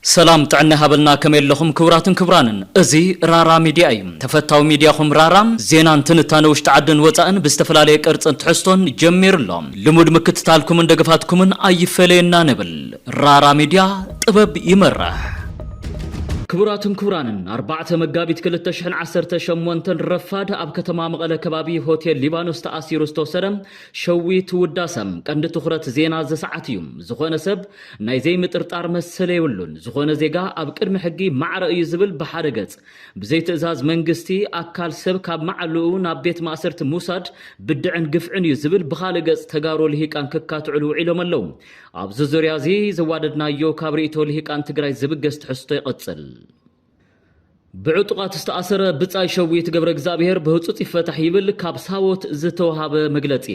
ሰላም ጥዕና ሃበልና ከመይ ኣለኹም ክብራትን ክብራንን እዚ ራራ ሚድያ እዩ ተፈታዊ ሚድያኹም ራራ ዜናን ትንታነ ውሽጢ ዓድን ወፃእን ብዝተፈላለየ ቅርፅን ትሕዝቶን ጀሚሩ ኣሎ ልሙድ ምክትታልኩምን ደገፋትኩምን ኣይፈለየና ንብል ራራ ሚድያ ጥበብ ይመርሕ። ክቡራትን ክቡራንን ኣርባዕተ መጋቢት ክልተ ሽሕን ዓሰርተ ሸሞንተን ረፋድ ኣብ ከተማ መቐለ ከባቢ ሆቴል ሊባኖስ ተኣሲሩ ዝተወሰደ ሸዊት ውዳሰ ቀንዲ ትኹረት ዜና እዚ ሰዓት እዩ። ዝኾነ ሰብ ናይ ዘይምጥርጣር መሰል የብሉን። ዝኾነ ዜጋ ኣብ ቅድሚ ሕጊ ማዕረ እዩ ዝብል ብሓደ ገፅ ብዘይ ትእዛዝ መንግስቲ ኣካል ሰብ ካብ መዓልኡ ናብ ቤት ማእሰርቲ ምውሳድ ብድዕን ግፍዕን እዩ ዝብል ብኻልእ ገፅ ተጋሩ ልሂቃን ክካትዕሉ ውዒሎም ኣለው። ኣብዚ ዙርያ እዚ ዘዋደድናዮ ካብ ርእይቶ ልሂቃን ትግራይ ዝብገስ ትሕዝቶ ይቕጽል። ብዕጡቓት ዝተኣሰረ ብጻይ ሸዊት ገብረእግዚኣብሄር ብህጹጽ ይፈታሕ ይብል ካብ ሳወት ዝተወሃበ መግለጺ።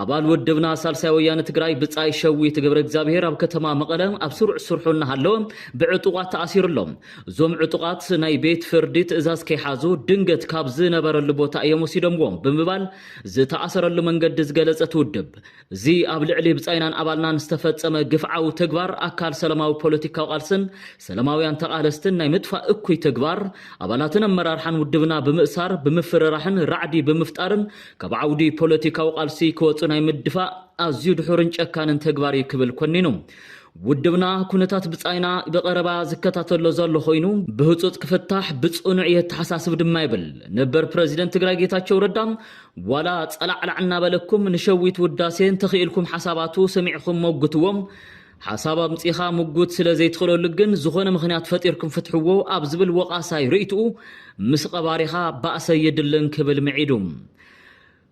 ኣባል ውድብና ሳልሳይ ወያነ ትግራይ ብጻይ ሸዊት ገብረእግዚኣብሄር ኣብ ከተማ መቐለ ኣብ ስሩዕ ስርሑ እናሃለወ ብዕጡቓት ተኣሲሩ ኣሎ። እዞም ዕጡቓት ናይ ቤት ፍርዲ ትእዛዝ ከይሓዙ ድንገት ካብ ዝነበረሉ ቦታ እዮም ወሲዶምዎ ብምባል ዝተኣሰረሉ መንገዲ ዝገለጸት ውድብ እዚ ኣብ ልዕሊ ብጻይናን ኣባልናን ዝተፈጸመ ግፍዓዊ ተግባር ኣካል ሰላማዊ ፖለቲካዊ ቃልስን ሰላማውያን ተቓለስትን ናይ ምጥፋእ እኩይ ተግባር ኣባላትን ኣመራርሓን ውድብና ብምእሳር ብምፍርራሕን ራዕዲ ብምፍጣርን ካብ ዓውዲ ፖለቲካዊ ቃልሲ ክወጹ ናይ ምድፋእ ኣዝዩ ድሑርን ጨካንን ተግባር እዩ ክብል ኮኒኑ። ውድብና ኩነታት ብጻይና ብቐረባ ዝከታተሎ ዘሎ ኮይኑ ብህጹጽ ክፍታሕ ብጽኑዕ የተሓሳስብ ድማ ይብል ነበር ፕረዚደንት ትግራይ ጌታቸው ረዳ ዋላ ጸላዕላዕ እናበለኩም ንሸዊት ውዳሴ እንተኺእልኩም ሓሳባቱ ሰሚዕኹም ሞግትዎ። ሓሳብ ኣምጺኻ ምጉት ስለ ዘይትኽእለሉ ግን ዝኾነ ምኽንያት ፈጢርኩም ፍትሕዎ ኣብ ዝብል ወቓሳይ ርእይትኡ ምስ ቐባሪኻ ባእሰ የድልን ክብል ምዒዱ።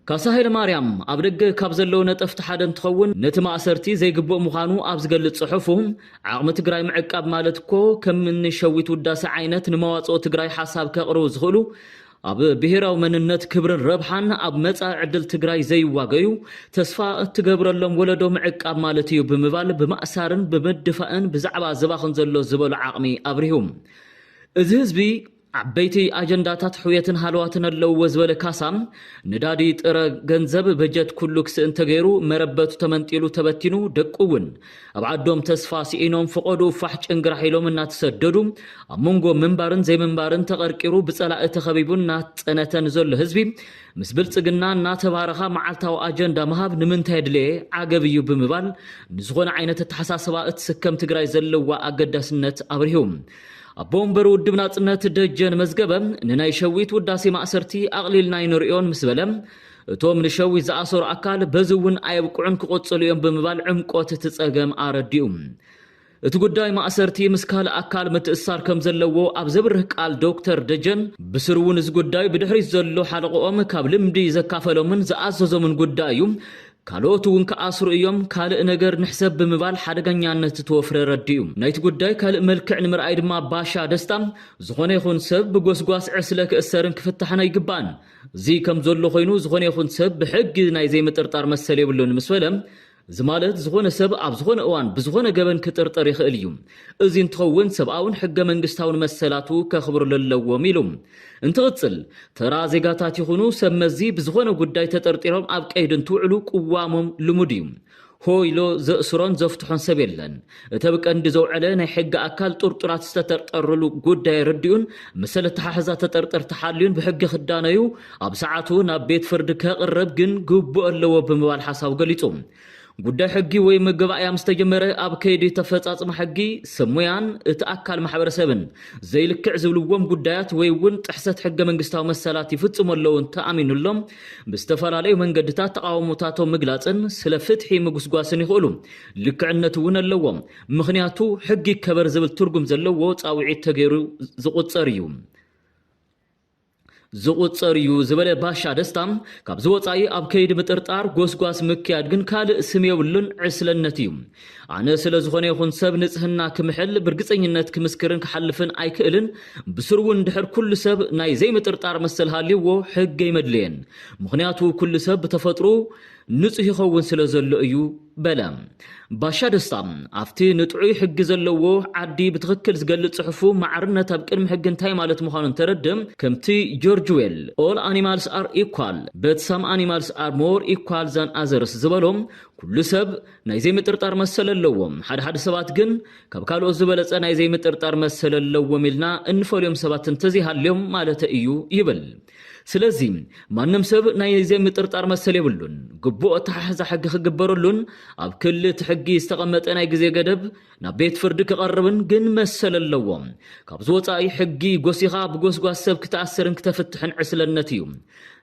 ካሳ ሃይለማርያም ኣብ ደገ ካብ ዘለዉ ነጠፍቲ ሓደ እንትኸውን ነቲ ማእሰርቲ ዘይግቡእ ምዃኑ ኣብ ዝገልጽ ጽሑፉ ዓቕሚ ትግራይ ምዕቃብ ማለት እኮ ከም እኒ ሸዊት ውዳሴ ዓይነት ንመዋጽኦ ትግራይ ሓሳብ ከቕርቡ ዝኽእሉ ኣብ ብሄራዊ መንነት ክብርን ረብሓን ኣብ መፃኢ ዕድል ትግራይ ዘይዋገዩ ተስፋ እትገብረሎም ወለዶ ምዕቃብ ማለት እዩ ብምባል ብማእሳርን ብምድፋእን ብዛዕባ ዝባኽን ዘሎ ዝበሎ ዓቕሚ ኣብሪሁ። እዚ ህዝቢ ዓበይቲ ኣጀንዳታት ሕውየትን ሃለዋትን ኣለውዎ ዝበለ ካሳ፣ ነዳዲ፣ ጥረ ገንዘብ፣ በጀት ኩሉ ክስእን ተገይሩ፣ መረበቱ ተመንጢሉ ተበቲኑ፣ ደቁ እውን ኣብ ዓዶም ተስፋ ስኢኖም ፍቐድኡ ፋሕ ጭንግራሕ ኢሎም እናተሰደዱ ኣብ መንጎ ምንባርን ዘይምንባርን ተቐርቂሩ ብጸላኢ ተኸቢቡ እናተጸነተ ንዘሎ ህዝቢ ምስ ብልጽግና እናተባረኻ መዓልታዊ ኣጀንዳ ምሃብ ንምንታይ ኣድለየ ዓገብ እዩ ብምባል ንዝኾነ ዓይነት ኣተሓሳስባ እትስከም ትግራይ ዘለዋ ኣገዳስነት ኣብሪሁ። ኣቦ ወንበር ውድብ ናጽነት ደጀን መዝገበ ንናይ ሸዊት ውዳሴ ማእሰርቲ ኣቕሊልና ኣይንርእዮን ምስ በለ እቶም ንሸዊት ዝኣሰሩ ኣካል በዚ እውን ኣየብቅዑን ክቕፅሉ እዮም ብምባል ዕምቆት እቲ ፀገም ኣረዲኡ። እቲ ጉዳይ ማእሰርቲ ምስ ካልእ ኣካል ምትእስሳር ከም ዘለዎ ኣብ ዘብርህ ቃል ዶክተር ደጀን ብስሩ እውን እዚ ጉዳይ ብድሕሪት ዘሎ ሓለቕኦም ካብ ልምዲ ዘካፈሎምን ዝኣዘዞምን ጉዳይ እዩ፣ ካልኦት እውን ክኣስሩ እዮም፣ ካልእ ነገር ንሕሰብ ብምባል ሓደገኛነት እቲ ወፍሪ ኣረዲኡ። ናይቲ ጉዳይ ካልእ መልክዕ ንምርኣይ ድማ ባሻ ደስታ ዝኾነ ይኹን ሰብ ብጎስጓስ ዕስለ ክእሰርን ክፍታሕን ኣይግባእን፣ እዚ ከም ዘሎ ኮይኑ ዝኾነ ይኹን ሰብ ብሕጊ ናይ ዘይምጥርጣር መሰል የብሉን ምስ በለ፣ እዚ ማለት ዝኾነ ሰብ ኣብ ዝኾነ እዋን ብዝኾነ ገበን ክጥርጠር ይኽእል እዩ። እዚ እንትኸውን ሰብኣውን ሕገ መንግስታውን መሰላቱ ከኽብርሉ ኣለዎም ኢሉ። እንትቕፅል፣ ተራ ዜጋታት ይኹኑ ሰብ መዚ ብዝኾነ ጉዳይ ተጠርጢሮም ኣብ ቀይዲ እንትውዕሉ ቅዋሞም ልሙድ እዩ። ሆ ኢሉ ዘእስሮን ዘፍትሖን ሰብ የለን። እቲ ኣብ ቀንዲ ዘውዐለ ናይ ሕጊ ኣካል ጥርጡራት ዝተተርጠርሉ ጉዳይ ኣረዲኡን መሰል ኣተሓሕዛ ተጠርጠርቲ ሓልዩን ብሕጊ ክዳነዩ ኣብ ሰዓቱ ናብ ቤት ፍርዲ ከቕርብ ግን ግቡእ ኣለዎ ብምባል ሓሳቡ ገሊጹ። ጉዳይ ሕጊ ወይ መገባእያ ምስ ተጀመረ ኣብ ከይዲ ተፈጻጽማ ሕጊ ሰብ ሙያን እቲ ኣካል ማሕበረሰብን ዘይልክዕ ዝብልዎም ጉዳያት ወይ እውን ጥሕሰት ሕገ መንግስታዊ መሰላት ይፍጽሙ ኣለዉ እንተኣሚኑሎም ብዝተፈላለዩ መንገድታት ተቓውሞታቶም ምግላጽን ስለ ፍትሒ ምጉስጓስን ይኽእሉ። ልክዕነት እውን ኣለዎም፣ ምኽንያቱ ሕጊ ይከበር ዝብል ትርጉም ዘለዎ ጻውዒት ተገይሩ ዝቑጸር እዩ። ዝቑጸር እዩ ዝበለ ባሻ ደስታ፣ ካብዚ ወጻኢ ኣብ ከይዲ ምጥርጣር ጎስጓስ ምክያድ ግን ካልእ ስም የብሉን፣ ዕስለነት እዩ። ኣነ ስለ ዝኾነ ይኹን ሰብ ንጽህና ክምሕል ብርግጸኝነት ክምስክርን ክሓልፍን ኣይክእልን፣ ብስሩ'ውን ድሕር ኩሉ ሰብ ናይ ዘይምጥርጣር መሰል ሃልዩዎ ሕጊ ኣይመድለየን፣ ምኽንያቱ ኩሉ ሰብ ብተፈጥርኡ ንጹህ ይኸውን ስለ ዘሎ እዩ በለ። ባሻ ደስታ ኣብቲ ንጥዑይ ሕጊ ዘለዎ ዓዲ ብትኽክል ዝገልጽ ጽሑፉ ማዕርነት ኣብ ቅድሚ ሕጊ እንታይ ማለት ምዃኑ እንተረድ ከምቲ ጆርጅ ዌል All Animals Are Equal But Some Animals Are More Equal Than Others ዝበሎ ኩሉ ሰብ ናይ ዘይምጥርጣር መሰል ኣለዎም። ሓድሓድ ሰባት ግን ካብ ካልኦት ዝበለጸ ናይ ዘይምጥርጣር መሰል ኣለዎም ኢልና እንፈልዮም ሰባት እንተዘይሃልዮም ማለተይ እዩ ይብል። ስለዚ ማንም ሰብ ናይ ዘይምጥርጣር መሰል የብሉን። ግቡእ ኣተሓሕዛ ሕጊ ክግበረሉን ኣብ ክሊ እቲ ሕጊ ዝተቐመጠ ናይ ግዜ ገደብ ናብ ቤት ፍርዲ ክቐርብን ግን መሰል ኣለዎ። ካብዚ ወፃኢ ሕጊ ጎሲኻ ብጎስጓስ ሰብ ክትኣስርን ክተፍትሕን ዕስለነት እዩ።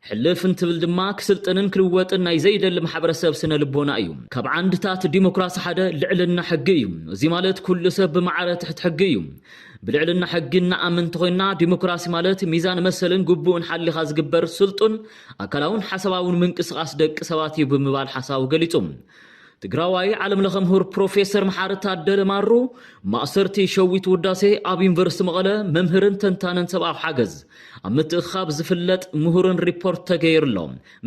ሕልፍ እንትብል ድማ ክስልጥንን ክልወጥን ናይ ዘይደሊ ማሕበረሰብ ስነ ልቦና እዩ። ካብ ዓንድታት ዲሞክራሲ ሓደ ልዕልና ሕጊ እዩ። እዙይ ማለት ኩሉ ሰብ ብማዕረ ትሕቲ ሕጊ እዩ። ብልዕልና ሕጊ እንኣምን እንተኾይንና ዲሞክራሲ ማለት ሚዛን መሰልን ግቡእን ሓሊኻ ዝግበር ስልጡን ኣካላውን ሓሳባውን ምንቅስቓስ ደቂ ሰባት እዩ ብምባል ሓሳቡ ገሊፁ። ትግራዋይ ዓለም ለኸ ምሁር ፕሮፌሰር መሓሪ ታደለ ማሩ፣ ማእሰርቲ ሸዊት ውዳሴ ኣብ ዩኒቨርሲቲ መቐለ መምህርን ተንታንን ሰብኣዊ ሓገዝ ኣብ ምትእኽኻብ ዝፍለጥ ምሁርን ሪፖርት ተገይርሎ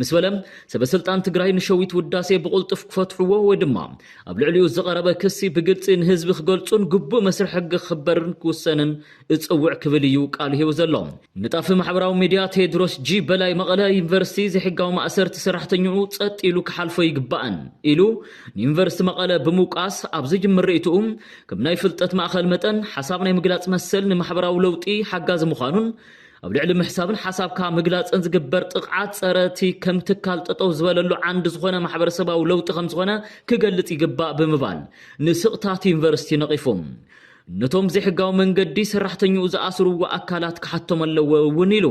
ምስ በለ ሰበ ስልጣን ትግራይ ንሸዊት ውዳሴ ብቕልጡፍ ክፈትሕዎ ወይ ድማ ኣብ ልዕሊኡ ዝቐረበ ክሲ ብግልፂ ንህዝቢ ክገልፁን ግቡእ መስርሕ ሕጊ ክኽበርን ክውሰንን እጸውዕ ክብል እዩ ቃሉ ሂቡ ዘሎ። ንጣፊ ማሕበራዊ ሚድያ ቴድሮስ ጂ በላይ መቐለ ዩኒቨርሲቲ ዘይሕጋዊ ማእሰርቲ ሰራሕተኝኡ ጸጥ ኢሉ ክሓልፎ ኣይግባእን ኢሉ ንዩኒቨርሲቲ መቐለ ብምውቃስ ኣብ ዝጅምር ርእይትኡ ከም ናይ ፍልጠት ማእኸል መጠን ሓሳብ ናይ ምግላፅ መሰል ንማሕበራዊ ለውጢ ሓጋዚ ምዃኑን ኣብ ልዕሊ ምሕሳብን ሓሳብካ ምግላፅን ዝግበር ጥቕዓት ፀረ እቲ ከም ትካል ጠጠው ዝበለሉ ዓንዲ ዝኾነ ማሕበረሰባዊ ለውጢ ከምዝኾነ ክገልፅ ይግባእ ብምባል ንስቕታት ዩኒቨርሲቲ ነቒፉ። ነቶም ዘይሕጋዊ መንገዲ ሰራሕተኛኡ ዝኣስርዎ ኣካላት ክሓቶም ኣለዎ እውን ኢሉ።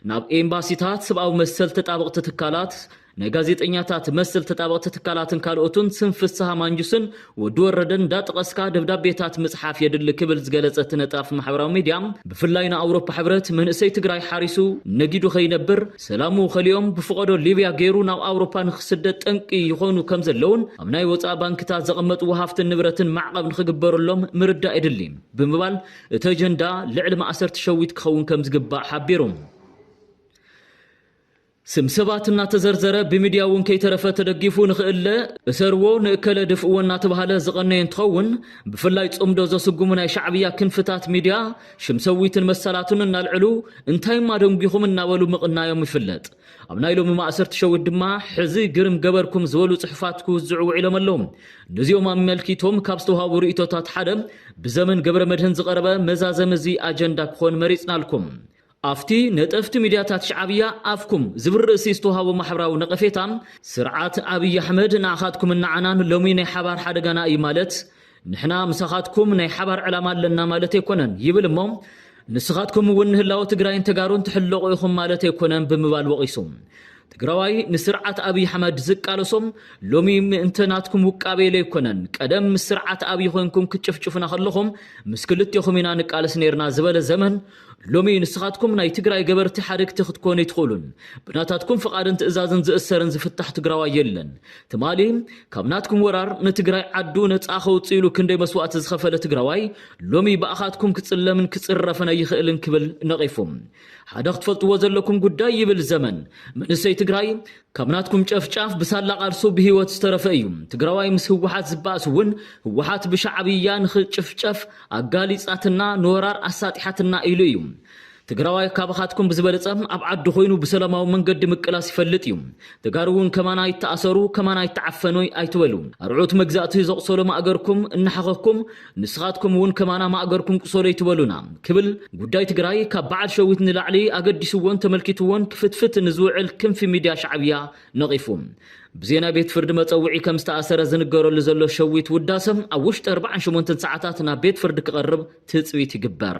ናብ ኤምባሲታት፣ ሰብኣዊ መሰል ተጣበቕቲ ትካላት፣ ናይ ጋዜጠኛታት መሰል ተጣበቕቲ ትካላትን ካልኦትን ስም ፍስሃ ማንጁስን ወዲ ወረደን እንዳጠቐስካ ደብዳቤታት ምፅሓፍ የድሊ ክብል ዝገለፀ እቲ ነጣፊ ማሕበራዊ ሚድያ ብፍላይ ንኣውሮፓ ሕብረት መንእሰይ ትግራይ ሓሪሱ ነጊዱ ከይነብር ሰላሙ ከሊኦም ብፍቐዶ ሊብያ ገይሩ ናብ ኣውሮፓ ንክስደድ ጠንቂ ይኾኑ ከምዘለውን ኣብ ናይ ወፃኢ ባንክታት ዘቐመጥዎ ሃፍትን ንብረትን ማዕቐብ ንክግበረሎም ምርዳእ የድሊ ብምባል እቲ ኣጀንዳ ልዕሊ ማእሰርቲ ሸዊት ክኸውን ከምዝግባእ ሓቢሩ። ስም ሰባት እናተዘርዘረ ብሚድያ እውን ከይተረፈ ተደጊፉ ንክእለ እሰርዎ ንእከለ ድፍእዎ እናተባሃለ ዝቐነየ እንትኸውን ብፍላይ ፅምዶ ዘስጉሙ ናይ ሻዕብያ ክንፍታት ሚድያ ሽም ሰዊትን መሰላቱን እናልዕሉ እንታይ እማ ደንጒኹም እናበሉ ምቕናዮም ይፍለጥ። ኣብ ናይ ሎሚ ማእሰርቲ ሸዊት ድማ ሕዚ ግርም ገበርኩም ዝበሉ ጽሑፋት ክውዝዑ ውዒሎም ኣለዉ። ነዚኦም ኣመልኪቶም ካብ ዝተውሃቡ ርእይቶታት ሓደ ብዘመን ገብረመድህን ዝቐረበ መዛዘሚ እዚ ኣጀንዳ ክኾን መሪጽናልኩም። ኣብቲ ነጠፍቲ ሚድያታት ሽዓብያ ኣፍኩም ዝብል ርእሲ ዝተውሃቦ ማሕበራዊ ነቐፌታ ስርዓት ኣብይ ኣሕመድ ንዓኻትኩምን ንዓናን ሎሚ ናይ ሓባር ሓደጋና እዩ ማለት ንሕና ምሳኻትኩም ናይ ሓባር ዕላማ ኣለና ማለት ኣይኮነን ይብል እሞ ንስኻትኩም እውን ንህላወ ትግራይን ተጋሩን ትሕለቑ ኢኹም ማለት ኣይኮነን ብምባል ወቒሱ። ትግራዋይ ንስርዓት ኣብይ ኣሕመድ ዝቃለሶም ሎሚ ምእንተ ናትኩም ውቃበ ኢለ ኣይኮነን ቀደም ምስ ስርዓት ኣብይ ኮይንኩም ክትጭፍጭፉና ከለኹም ምስ ክልቴኹም ኢና ንቃለስ ነይርና ዝበለ ዘመን ሎሚ ንስኻትኩም ናይ ትግራይ ገበርቲ ሓደግቲ ክትኮኑ ኣይትኽእሉን። ብናታትኩም ፍቓድን ትእዛዝን ዝእሰርን ዝፍታሕ ትግራዋይ የለን። ትማሊ ካብ ናትኩም ወራር ንትግራይ ዓዱ ነፃ ከውፅእ ኢሉ ክንደይ መስዋእቲ ዝኸፈለ ትግራዋይ ሎሚ ብኣኻትኩም ክፅለምን ክፅረፍን ኣይኽእልን ክብል ነቒፉ። ሓደ ክትፈልጥዎ ዘለኩም ጉዳይ ይብል ዘመን፣ መንእሰይ ትግራይ፣ ካብ ናትኩም ጨፍጫፍ ብሳላ ቃልሱ ብሂወት ዝተረፈ እዩ ትግራዋይ ምስ ህወሓት ዝባኣስ እውን ህወሓት ብሻዕብያ ንክጭፍጨፍ ኣጋሊፃትና ንወራር ኣሳጢሓትና ኢሉ እዩ ትግራዋይ ካባኻትኩም ብዝበለፀ ኣብ ዓዱ ኮይኑ ብሰላማዊ መንገዲ ምቅላስ ይፈልጥ እዩ ተጋሩ እውን ከማና ይታኣሰሩ ከማና ይታዓፈኑ ኣይትበሉ ኣርዑት መግዛእቲ ዘቁሰሎም ኣእገርኩም እናሓኸኩም ንስኻትኩም እውን ከማና ማእገርኩም ቁሰሉ ኣይትበሉና ክብል ጉዳይ ትግራይ ካብ በዓል ሸዊት ንላዕሊ ኣገዲስዎን ተመልኪትዎን ክፍትፍት ንዝውዕል ክንፊ ሚድያ ሻዕብያ ነቒፉ ብዜና ቤት ፍርዲ መፀውዒ ከም ዝተኣሰረ ዝንገረሉ ዘሎ ሸዊት ውዳሰ ኣብ ውሽጢ ኣርባዓን ሸሞንተን ሰዓታት ናብ ቤት ፍርዲ ክቐርብ ትፅቢት ይግበር።